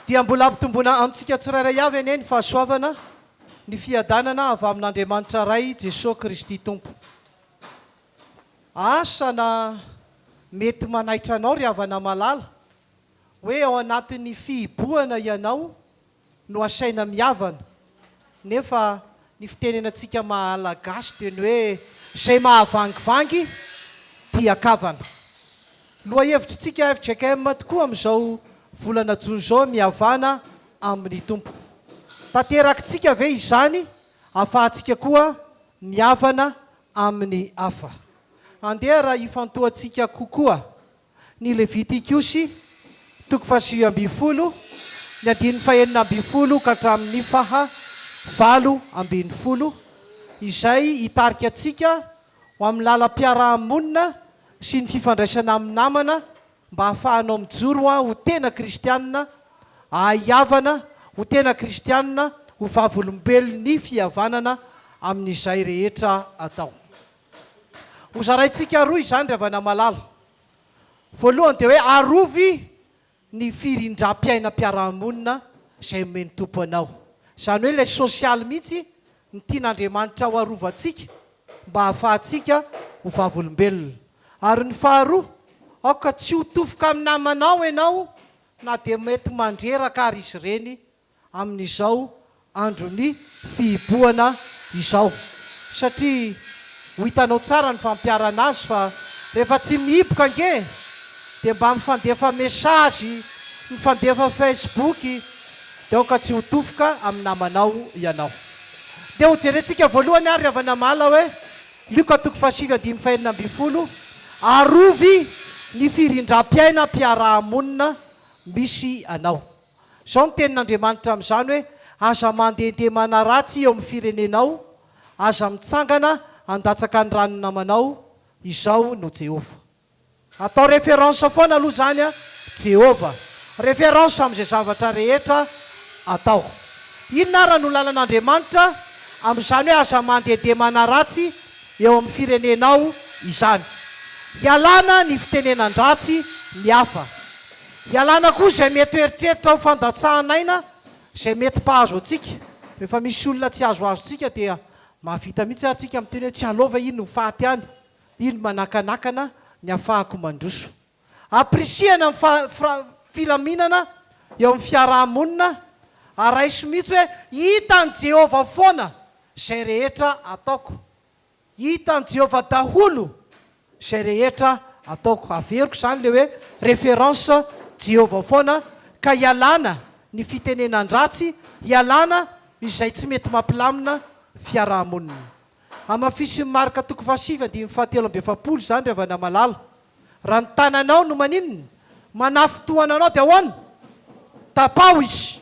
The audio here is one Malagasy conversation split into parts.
Dia mbola hampitomboana amintsika tsirairay avy anie ny fahasoavana, ny fiadanana avy amin'Andriamanitra Ray, Jesoa Kristy Tompo. Asa na mety manaitra anao ry havana malala, hoe ao anatin'ny fihibohana ianao, no asaina mihavana nefa ny fitenenatsika Malagasy dia ny hoe izay mahavangivangy dia kavana. Lohahevitritsika fjkm tokoa amin'izao volana jona izao mihavana amin'ny Tompo. Tanterakintsika ve izany afahantsika koa mihavana amin'ny hafa? Andeha raha hifantohantsika kokoa Ny Levitikosy, toko fahasivy ambin'ny folo, ny andininy fahenina ambin'ny folo ka hatramin'ny faha valo ambin'ny folo, izay hitarika antsika ho amin'ny lalam-piaraha-monina sy ny fifandraisana amin'ny namana mba hahafahanao mijoro ho tena kristiana, ahahiavana ho tena kristiana, ho vavolombelon'ny fihavanana amin'izay rehetra atao. Ho zaraintsika roa izany ry havana malala. Voalohany dia hoe arovy ny firindram-piainam-piarahamonina izay omen'ny Tompo anao. Izany hoe ilay sosialy mihitsy no tian'Andriamanitra ho arovantsika mba hahafahantsika ho vavolombelona. Ary ny faharoa, aoka tsy ho tofoka amin'ny namanao ianao na dia mety mandreraka ary izy ireny amin'izao andron'ny fihibohana izao satria ho hitanao tsara ny fampiharana azy fa rehefa tsy mihiboka ange dia mba mifandefa message, mifandefa facebook dia aoka tsy ho tofoka amin'ny namanao ianao. Dia ho jerentsika voalohany ary havana mala hoe Lioka toko fahasivy andininy fahenina ambin'ny folo, arovy ny firindram-piaina mpiaraha-monina misy anao. Izao ny tenin'Andriamanitra amin'izany hoe, Aza mandehandeha manaratsy eo amin'ny firenenao, aza mitsangana handatsaka ny ran'ny namanao, izaho no Jehovah. Atao référence foana aloha izany an, Jehovah. Référence amin'izay zavatra rehetra atao. Inona àry no lalan'Andriamanitra amin'izany hoe aza mandehandeha manaratsy eo amin'ny firenenao izany? Ialana ny fitenenan-dratsy ny hafa. Ialana koa izay mety ho eritreritra ho fandatsahan'aina izay mety mpahazo antsika. Rehefa misy olona tsy azoazo antsika dia mahavita mihitsy ary tsika miteny hoe tsy aleo ve iny ho faty any, iny manakanakana ny afahako mandroso. Appriciena ny filaminana eo amin'ny fiaraha-monina ary raiso mihitsy hoe hitan'i Jehovah foana izay rehetra ataoko. Hitan'i Jehovah daholo izay rehetra ataoko. Averiko izany ilay hoe référence Jehovah foana, ka hialana ny fitenenan-dratsy, hialana izay tsy mety mampilamina fiaraha-monina. Hamafisin'i Marka toko fahasivy andininy fahatelo amby efapolo izany, ry havana malala. Raha ny tananao no maninona, manafintohana anao dia ahoana? Tapaho izy.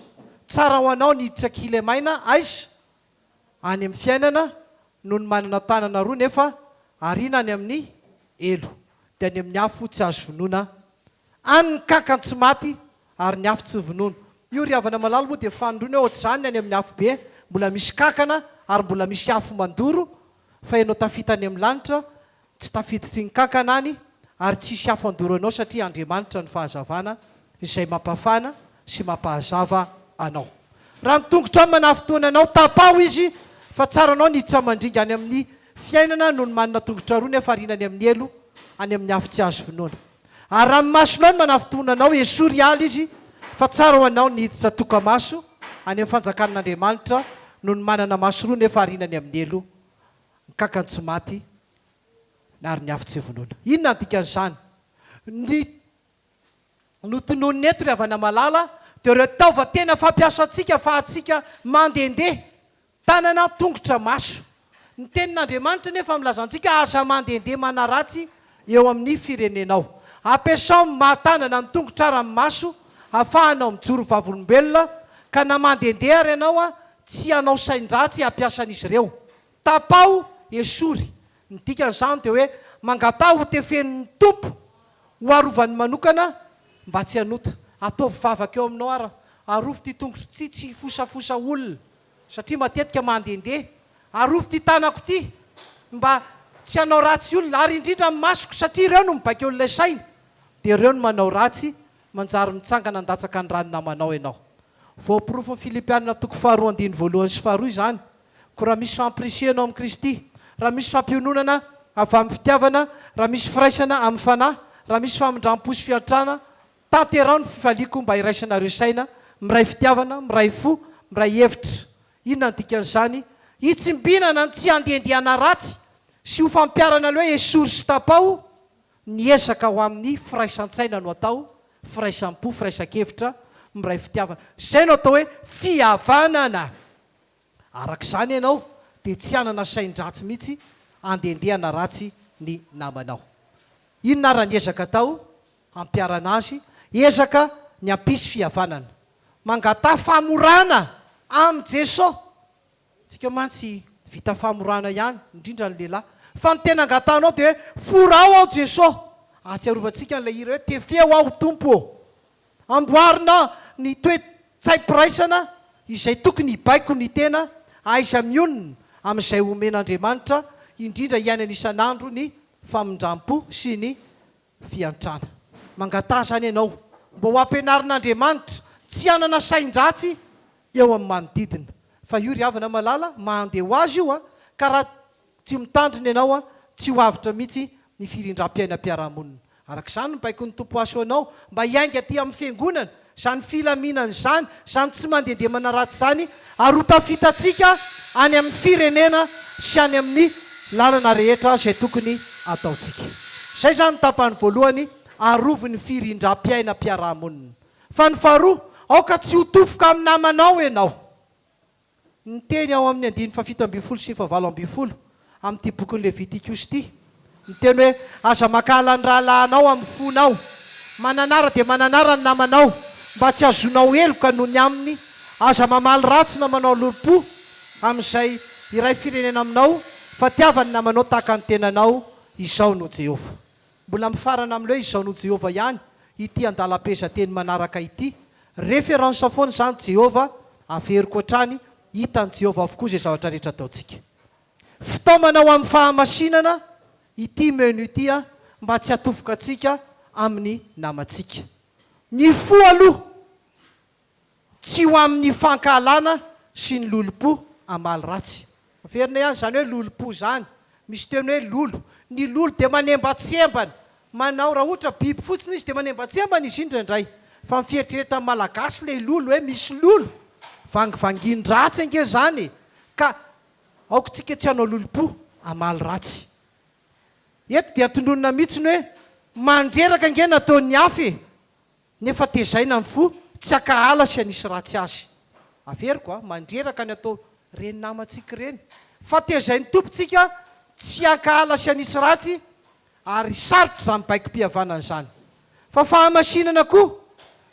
Tsara ho anao ny hiditra kilemaina, aiza? any amin'ny fiainana noho ny manana tanana roa nefa ariana any amin'ny helo, dia any amin'ny afo tsy azo vonoina any ny kankany tsy maty ary ny afo tsy vonono. Io ry havana malala moa dia fanindroany hoe ohatr'izany ny any amin'ny afobe, mbola misy kankana ary mbola misy afo mandoro fa ianao tafita any amin'ny lanitra Tsy tafiditry ny kankana any ary tsy hisy afo handoro anao satria Andriamanitra no fahazavana izay mampafana sy mampahazava anao. Raha ny tongotrao no manafintohina anao, tapaho izy fa tsaranao ny hiditra mandringa any amin'ny fiainana noho ny manana tongotra roa nefa ariana any amin'ny helo, any amin'ny afo tsy azo vonoina. Ary raha ny masonao no manafintohina anao, esory hiala izy fa tsara ho anao ny hiditra toka-maso any amin'ny fanjakan'Andriamanitra noho ny manana maso roa nefa ariana any amin'ny helo, ny kankany tsy maty ary ny afo tsy vonoina. Inona ny dikan'izany? Ny notononina eto ry havana malala dia ireo taovan-tena fampiasantsika afahantsika mandehandeha, tanana, tongotra, maso. Ny tenin'Andriamanitra anefa milaza antsika aza mandehandeha manaratsy eo amin'ny firenenao. Ampiasao ny maha tanana ny tongotra ary ny maso afahanao mijoro vavolombelona ka na mandehandeha ary ianao tsy hanao sain-dratsy hampiasa an'izy ireo. Tapaho esory, ny dikan'izany dia hoe mangataha ho tefenin'ny Tompo ho arovany manokana mba tsy hanota. Ataovy vavaka eo aminao ary arovy ity tongotro ity tsy hifosafosa olona. satria matetika mandehandeha arovy ity tanako ity mba tsy hanao ratsy olona ary indrindra ny masoko satria ireo no mibaiko an'ilay saina dia ireo no manao ratsy manjary mitsangana handatsaka ny ràny namanao ianao voaporofon'i Filipianina toko faharoa andininy voalohany sy faharoa izany koa raha misy fampirisihanao amin'i Kristy raha misy fampiononana avy amin'ny fitiavana raha misy firaisana amin'ny fanahy raha misy famindram-po sy fiantrana Tanteraho ny fifaliako mba iraisanareo saina, miray fitiavana, miray fo, miray hevitra. Inona no dikan'izany? Hitsimbinana ny tsy handiandiana ratsy sy ho fampiharana ny hoe esory sy tapaho, ny ezaka ho amin'ny firaisan-tsaina no atao, firaisampo, firaisan-kevitra, miray fitiavana. Izay no atao hoe fihavanana. Araka izany ianao dia tsy hanana sain-dratsy mihitsy handendeana ratsy ny namanao. Inona ary ny ezaka atao hampiharana azy? Ezaka ny hampisy fihavanana. Mangataha famorana amin'i Jesoa. Isika mantsy vita famorana ihany, indrindra ny lehilahy. Fa ny tena angatahanao dia hoe, Forao aho Jesoa. Ahatsiarovantsika an'ilay hira hoe, Tefeo aho Tompo ô. Amboarina ny toe-tsaim-piraisana izay tokony hibaiko ny tena aiza mionona amin'izay omen'Andriamanitra indrindra hiainana isan'andro ny famindram-po sy ny fiantrana. Mangataha izany ianao mba ho ampianarin'Andriamanitra tsy hanana sain-dratsy eo amin'ny manodidina. Fa io ry havana malala mahandeha ho azy io an! Ka raha tsy mitandrina ianao an, tsy ho avotra mihitsy ny firindram-piainam-piarahamonina. Araka izany ny baikon'ny Tompo Aso anao mba hiainga aty amin'ny Fiangonana izany filaminana izany, izany tsy mandehandeha manaratsy izany ary ho tafitantsika any amin'ny Firenena sy any amin'ny lalana rehetra izay tokony ataontsika. Izay izany ny tapany voalohany arovy ny firindram-piainam-piarahamonina. Fa ny faharoa, aoka tsy ho tofoka amin'ny namanao ianao. Ny teny ao amin'ny andininy fahafito ambin'ny folo sy fahavalo ambin'ny folo amin'ity bokin'i Levitikus ity, ny teny hoe, Aza mankahala ny rahalahinao amin'ny fonao. Mananara dia mananara ny namanao, mba tsy hahazoanao heloka noho ny aminy. Aza mamaly ratsy na manao lolompo amin'izay iray firenena aminao, fa tiava ny namanao tahaka ny tenanao. Izao no Jehovah. Mbola mifarana amin'ny hoe Izao no Jehovah ihany ity andalam-pehezanteny manaraka ity. Référence foana izany Jehovah, averiko hatrany, hitan'i Jehovah avokoa izay zavatra rehetra ataontsika. Fitaomana ho amin'ny fahamasinana ity menu ity mba tsy hatofoka antsika amin'ny namantsika. Ny fo aloha Tsy ho amin'ny fankahalana sy ny lolompo hamaly ratsy. Averina ihany izany hoe lolompo izany. Misy teny hoe lolo. Ny lolo dia manembatsembana. Manao, raha ohatra biby fotsiny izy dia manembatsembana izy indraindray. Fa ny fieritreretan'ny Malagasy ilay lolo hoe misy lolo. Vangivangin-dratsy ange izany e! Ka aoka isika tsy hanao lolompo hamaly ratsy. Eto dia tononina mihitsy ny hoe mandreraka ange nataon'ny hafa e! Nefa tezaina ny fo tsy hakahala sy hanisy ratsy azy. Averiko a, mandreraka ny atao reny namantsika ireny, fa tezain'ny Tompo tsika tsy hankahala sy hanisy ratsy ary sarotra izany baiko-pihavanana izany. Fa fahamasinana koa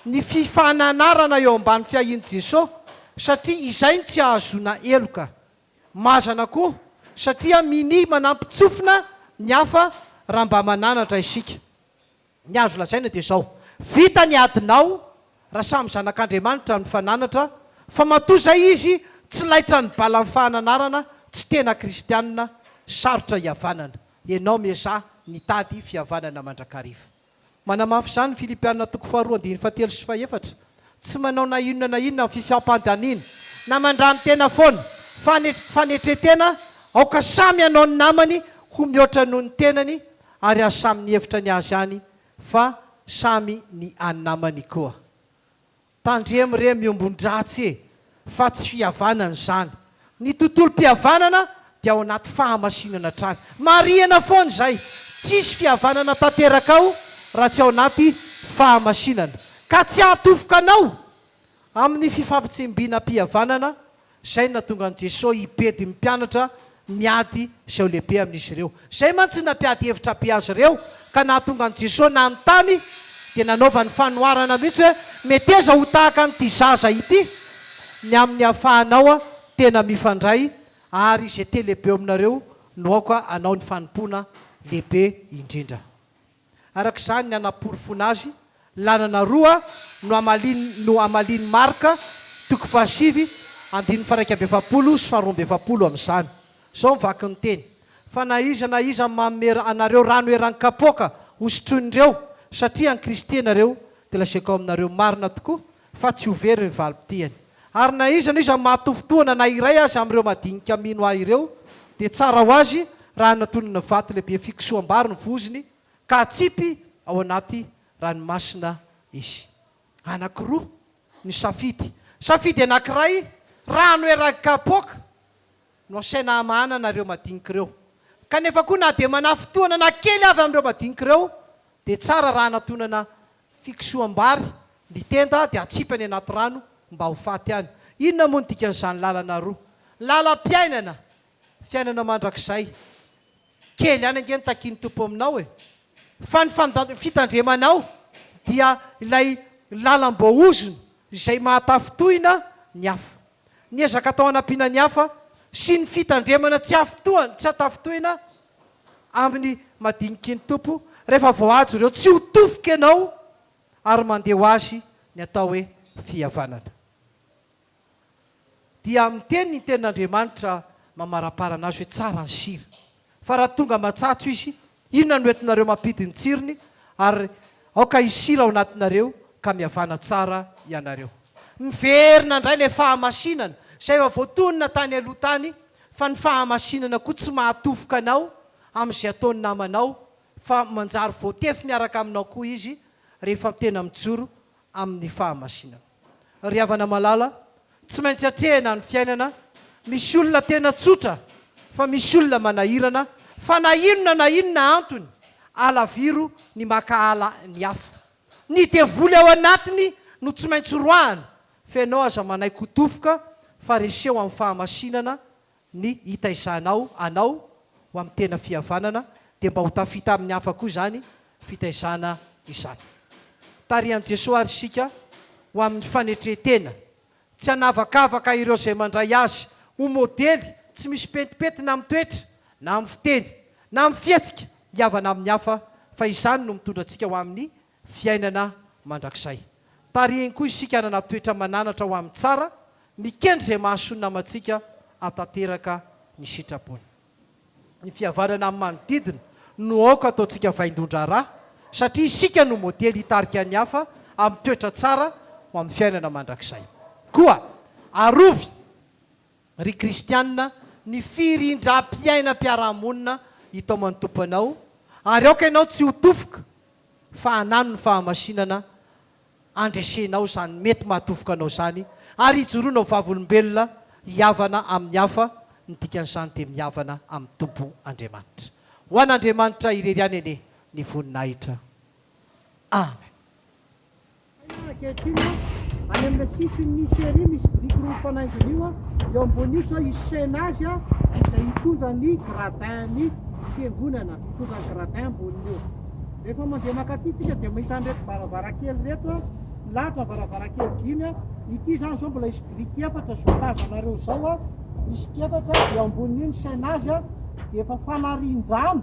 ny fifananarana eo ambany fiahian'i Jeso satria izay no tsy ahazoana heloka. Mazana koa satria minia manampy tsofina ny hafa raha mba mananatra isika. Ny azo lazaina dia izao, vita ny adinao raha samy zanak'Andriamanitra ny fananatra fa matoa izay izy tsy laitran'ny balan'ny fahananarana tsy tena kristianina sarotra hihavanana. Ianao miezaha mitady fihavanana mandrakariva. Manamafy izany ny Filipiana toko faharoa andininy fahatelo sy fahefatra. Tsy manao na inona na inona amin'ny fifiampandaniana na mandrani-tena foana fa ny fanetren-tena aoka samy hanao ny namany ho mihoatra noho ny tenany ary aza samy ny hevitra ny azy ihany fa samy ny an'ny namany koa. Tandremo re miombon-dratsy e! fa tsy fihavanana izany. Ny tontolom-pihavanana dia ao anaty fahamasinana hatrany. Marihina foana izay. Tsisy fihavanana tanteraka ao raha tsy ao anaty fahamasinana. Ka tsy hahatofoka anao amin'ny fifampitsembinam-pihavanana izay no nahatonga an'i Jesoa hibedy ny mpianatra miady sy eo lehibe amin'izy ireo. Izay mantsy no nampiady hevitra be azy ireo ka nahatonga an'i Jesoa nanontany dia nanaovany fanoharana mihitsy hoe, Meteza ho tahaka an'ity zaza ity ny amin'ny hafahanao tena mifandray ary izay te-lehibe eo aminareo no aoka hanao ny fanompoana lehibe indrindra. Araka izany, ny hanaporofoana azy, lalana roa no hamalian no hamalian'i Marc, toko fahasivy, andininy faharaika amby efapolo sy faharoa amby efapolo amin'izany. Izao ny vakin'ny teny, Fa na iza na iza manome anareo rano eran-kapoaka hosotroin'ireo, satria an'i Kristy ianareo, dia lazaiko aminareo marina tokoa, fa tsy ho very ny valim-pitihany. Ary na iza na iza mahatofotohana na iray aza amin'ireo madinika mino Ahy ireo, dia tsara ho azy raha anatonana vato lehibe fikisoam-bary ny vozony, ka atsipy ao anaty ranomasina izy. Anankiroa ny safidy. Safidy anankiray, rano eraky kapoaka no asaina hamahana anareo madinika ireo. Kanefa koa na dia manafintohana na kely avy amin'ireo madinika ireo, dia tsara raha anatonana Fikosoham-bary, Ny tenda dia atsipy any anaty rano mba ho faty any. Inona moa ny dikan'izany lalana roa? Lalam-piainana, Fiainana mandrakizay. Kely ihany ange ny takian'ny Tompo aminao e! Fa ny fitandremanao dia ilay lalam-boahozony izay mahatafintohina ny hafa. Ny ezaka atao hanampiana ny hafa sy ny fitandremana tsy afintohana, tsy an-tafintohina amin'ny madiniky ny Tompo rehefa voahajo ireo tsy ho tofoka ianao ary mandeha ho azy ny atao hoe fihavanana. Dia amin'ny teny ny tenin'Andriamanitra mamarapara anazy hoe tsara ny sira fa raha tonga matsatso izy inona no entinareo mampidi ny tsirony ary aoka hisy sira ao anatinareo ka mihavana tsara ianareo. Miverina indray ilay fahamasinana izay efa voatonona tany aloha tany fa ny fahamasinana koa tsy mahatofoka anao amin'izay ataon'ny namanao fa manjary voatefy miaraka aminao koa izy rehefa tena mijoro amin'ny fahamasinana. Ry havana malala, tsy maintsy atrehina ny fiainana, misy olona tena tsotra fa misy olona manahirana fa na inona na inona antony alaviro ny mankahala ny hafa. Ny devoly ao anatiny no tsy maintsy roahana Fa ianao aza manaiky ho tofoka fa reseho amin'ny fahamasinana ny hitaizanao anao ho amin'ny tena fihavanana dia mba ho tafita amin'ny hafa koa izany fitaizana izany. Tarihan'i Jesoa ary isika ho amin'ny fanetren-tena, tsy hanavakavaka ireo izay mandray Azy ho modely tsy misy pentimpentina amin'ny toetra na amin'ny fiteny na amin'ny fihetsika hihavana amin'ny hafa fa izany no mitondra antsika ho amin'ny fiainana mandrakizay. Tarihiny koa isika hanana toetra mananatra ho amin'ny tsara, mikendry izay mahasoa ny namantsika, hahatanteraka ny sitrapony. Ny fihavanana amin'ny manodidina no aoka ataontsika vaindohan-draharaha, satria isika no modely hitarika ny hafa amin'ny toetra tsara ho amin'ny fiainana mandrakizay. Koa arovy! Ry kristianina, ny firindram-piainam-piarahamonina hitaom an'ny Tompo anao, ary aoka ianao tsy ho tofoka, fa hanano ny fahamasinana handresenao izany mety mahatofoka anao izany, ary hijoroana ho vavolombelona hihavana amin'ny hafa, ny dikan'izany dia mihavana amin'ny Tompo Andriamanitra. Ho an'Andriamanitra irery ihany anie ny voninahitra. Amen. Ankehitriny, any amin'ny sisin'ny Syria misy biriky roa mifanaingina io, eo ambonin'io sao hisaina azy izay hitondra ny gradin-ny fiangonana, hitondra ny gradin amboniny eo. Rehefa mandeha mankaty isika dia mahita an'ireto varavarankely ireto, milahatra ny varavarankely dimy, ity izany izao mbola hisy biriky efatra izao tazanareo izao, biriky efatra, eo ambonin'io ny saina azy dia efa fanarian-drano.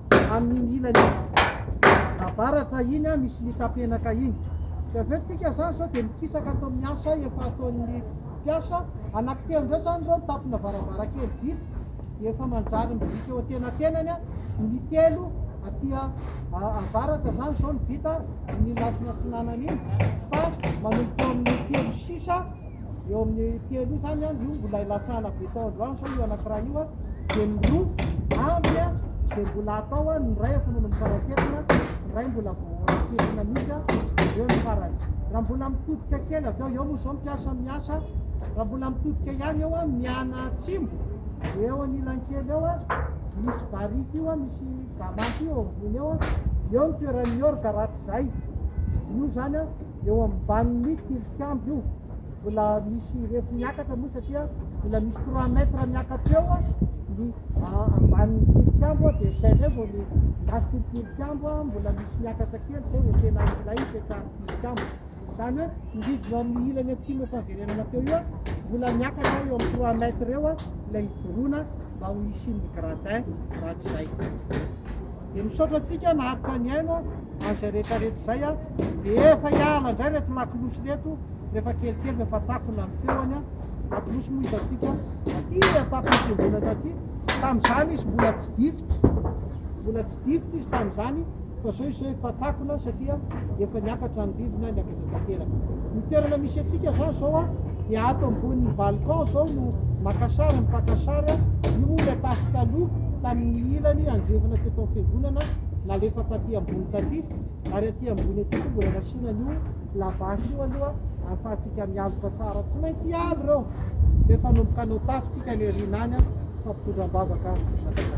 amin'iny ilany iny. Avaratra iny misy mitapenaka iny. Tsy avy eo tsika zany sao dia mikisaka ato amin'ny asa efa ataon'ny mpiasa. Anankitelo ndray zany ireo mitampina varavarankely vita dia efa manjary mibiriky eo antenatenany ny telo aty avaratra zany zao ny vita amin'ny lafiny atsinanana iny fa manomboka eo amin'ny telo sisa eo amin'ny telo io zany an, io mbola ilatsahana béton andro any zao io anakiray io an, dia ny roa andry an, izay mbola atao an, ny iray efa manomboka raketona, ny iray mbola vao raketona mihitsy an, eo ny farany. Raha mbola mitodika kely avy eo, eo moa izao mpiasa miasa, raha mbola mitodika ihany eo an, miana atsimo, eo anilany kely eo an, misy barika io an, misy gamanty io eo ambony eo an, eo ny toeran'ny orga rahatrizay, io zany an. Eo ambanin'ny tilikambo io, mbola misy refy miakatra moa satria mbola misy trois mètres miakatra eo ny ambanin'ny tilikambo dia izay indray vao ny lafitry ny tilikambo mbola misy miakatra kely izay vao tena ilay ipetrahan'ny tilikambo. Izany hoe mirijona amin'ny ilany atsimo efa averenana teo io mbola miakatra eo amin'ny trois mètres eo ilay hijoroana mba ho hisian'ny gradin mandry izay. dia misaotra antsika naharitra nihaino an'izay rehetrarehetra izay a dia efa hiala indray reto lakolosy reto rehefa kelikely rehefa takona ny feoany a lakolosy moa hitantsika taty atakon'ny fiangonana taty tamin'izany izy mbola tsy difitra mbola tsy difitra izy tamin'izany fa zao izay efa takona satria efa niakatra ny rindrina be tanteraka. Ny toerana misy antsika zany zao a, dia ato ambonin'ny balcon zao no maka sary, mipaka sary a, io moa ilay tafo taloha tamin'ny ilany andrefana teto amin'ny fiangonana nalefa taty ambony taty, ary aty ambony aty koa mbola nasiana an'io labasy io aloha ahafahantsika mialoka tsara, tsy maintsy hialo ireo rehefa hanomboka hanao tafo tsika any aoriana any a, fa mpitondra am-bavaka mandrakariva.